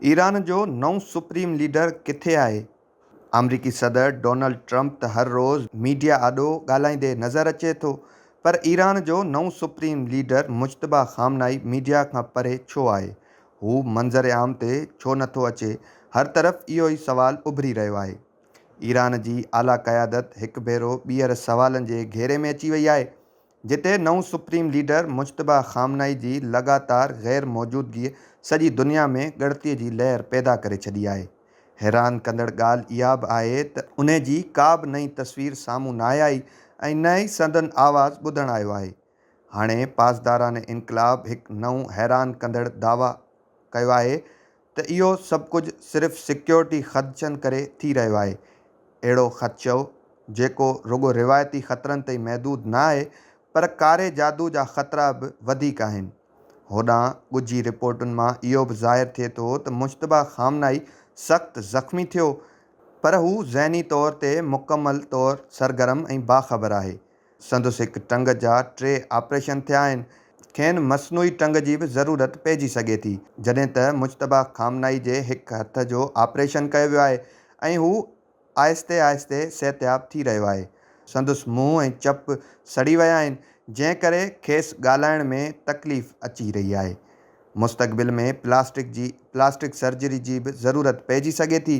Iran جو نئون supreme leader ڪٿي آهي؟ آمريڪي صدر ڊونلڊ ٽرمپ ته هر روز ميڊيا آڏو ڳالهائيندي نظر اچي ٿو پر ايران جو نئون supreme leader Mojtaba Khamenei media کان پري ڇو آهي؟ هو منظر عام تي ڇو نٿو اچي؟ هر طرف اهو ئي سوال اڀري رهيو آهي. ايران جي اعليٰ قيادت هڪ ڀيرو ٻيهر سوالن جي گهيري ۾ اچي وئي آهي، جتي نئون سپريم ليڊر مجتبيٰ خامنائي جي لڳاتار غير موجودگيء سڄي دنيا ۾ ڳڻتيء جي لهر پيدا ڪري ڇڏي آهي. حيران ڪندڙ ڳالهه اها به آهي ته انهي جي ڪا به نئين تصوير سامهون ناهي آئي ۽ نه ئي سندن آواز ٻڌڻ آيو آهي. هاڻي پاسداران انقلاب هڪ نئون حيران ڪندڙ دعويٰ ڪيو آهي ته اهو سڀ ڪجهه صرف سيڪيورٽي خدشن ڪري ٿي رهيو آهي. اهڙو خدشو جيڪو رڳو روايتي خطرن تائين محدود نه آهي پر ڪاري جادو جا خطرا به وڌيڪ آهن. هوڏانهن ڳجهي رپورٽن مان اهو به ظاهر ٿئي ٿو ته مجتبيٰ خامنائي سخت زخمي ٿيو پر هو ذهني طور تي مڪمل طور سرگرم ۽ باخبر آهي. سندس هڪ ٽنگ جا ٽي آپريشن ٿيا آهن، کين مصنوعي ٽنگ جي به ضرورت پئجي سگهي ٿي، جڏهن ته مجتبيٰ خامنائي جي هڪ هٿ جو آپريشن ڪيو ويو آهي ۽ هو آهستي آهستي صحتياب ٿي رهيو آهي. سندس منهن ۽ چپ سڙي ويا آهن، جنهن ڪري کيس ڳالهائڻ ۾ تڪليف اچي رهي آهي. مستقبل ۾ پلاسٽڪ جي پلاسٽڪ سرجري جي به ضرورت پئجي سگهي ٿي.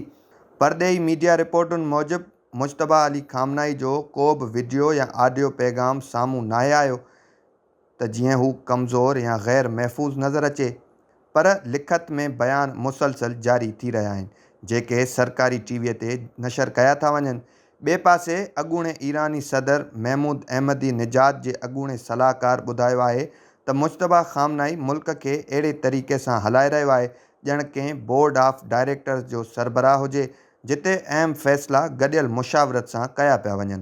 پرڏيهي ميڊيا رپورٽن موجب، مجتبيٰ علي خامنائي جو ڪو به وڊيو يا آڊيو پيغام سامهون ناهي آيو ته جيئن هو ڪمزور يا غير محفوظ نظر اچي پر لکت ۾ بيان مسلسل جاري ٿي رهيا آهن جيڪي سرڪاري ٽي وي تي نشر ڪيا ٿا وڃن ٻئي پاسي اڳوڻي ايراني صدر محمود احمدي نژاد جي اڳوڻي صلاحڪار ٻڌايو آهي ته مجتبيٰ خامنائي ملڪ کي اهڙي طريقي سان هلائي رهيو آهي ڄڻ ڪنهن بورڊ آف ڊائريڪٽرز جو سربراهه هجي، جتي اهم فيصلا گڏيل مشاورت سان ڪيا پيا وڃن.